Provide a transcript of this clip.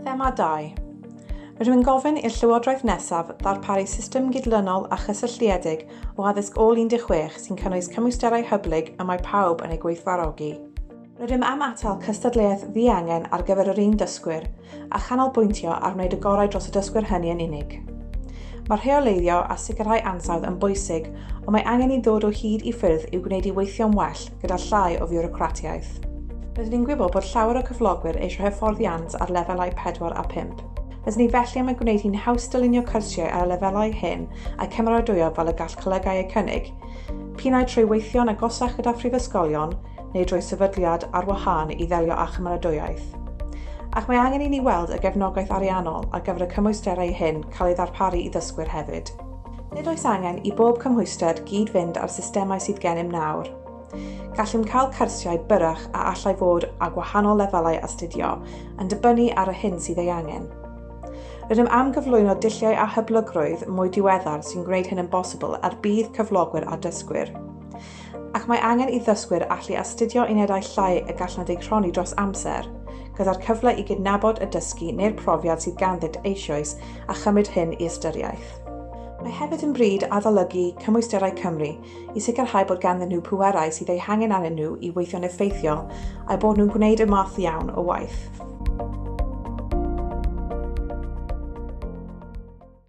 Thema 2. Rwy'n gofyn i'r Llywodraeth nesaf ddarparu system gydlynol a chysylltiedig o addysg ôl 16 sy'n cynnwys cymwysterau hyblyg y mae pawb yn eu gweithfarogi. Rydym am atal cystadleuaeth ddiangen ar gyfer yr un dysgwyr, a chanolbwyntio ar wneud y gorau dros y dysgwyr hynny yn unig. Mae rheoleiddio a sicrhau ansawdd yn bwysig, ond mae angen i ddod o hyd i ffyrdd i'w gwneud i weithio'n well gyda llai o fiwrocratiaeth. Rydyn ni'n gwybod bod llawer o cyflogwyr eisiau hyfforddiant ar lefelau 4 a 5. Rydyn ni felly am ei gwneud hi'n haws dylunio cyrsiau ar y lefelau hyn a'u cymeradwyo fel y gall colegau eu cynnig. Pinnau trwy weithio'n agosach gyda phrifysgolion, neu drwy sefydliad ar wahân i ddelio â chymeradwyaeth. Ac mae angen i ni weld y gefnogaeth ariannol ar gyfer y cymwysterau hyn cael ei ddarparu i ddysgwyr hefyd. Nid oes angen i bob cymhwyster gyd-fynd â'r systemau sydd gennym nawr. Gallem cael cyrsiau byrrach a allai fod â gwahanol lefelau astudio, yn dibynnu ar y hyn sydd ei angen. Rydym am gyflwyno dulliau a hyblygrwydd mwy diweddar sy'n gwneud hyn yn bosibl er budd cyflogwyr a dysgwyr. ac mae angen i ddysgwyr allu astudio unedau llai y gallant eu rhoni dros amser, gyda'r cyfle i gydnabod y dysgu neu'r profiad sydd ganddynt eisoes a chymryd hyn i ystyriaeth. Mae hefyd yn bryd adolygu cymwysterau Cymru i sicrhau bod ganddyn nhw pwerau sydd eu hangen arnyn nhw i weithio'n effeithiol a'u bod nhw'n gwneud y math iawn o waith.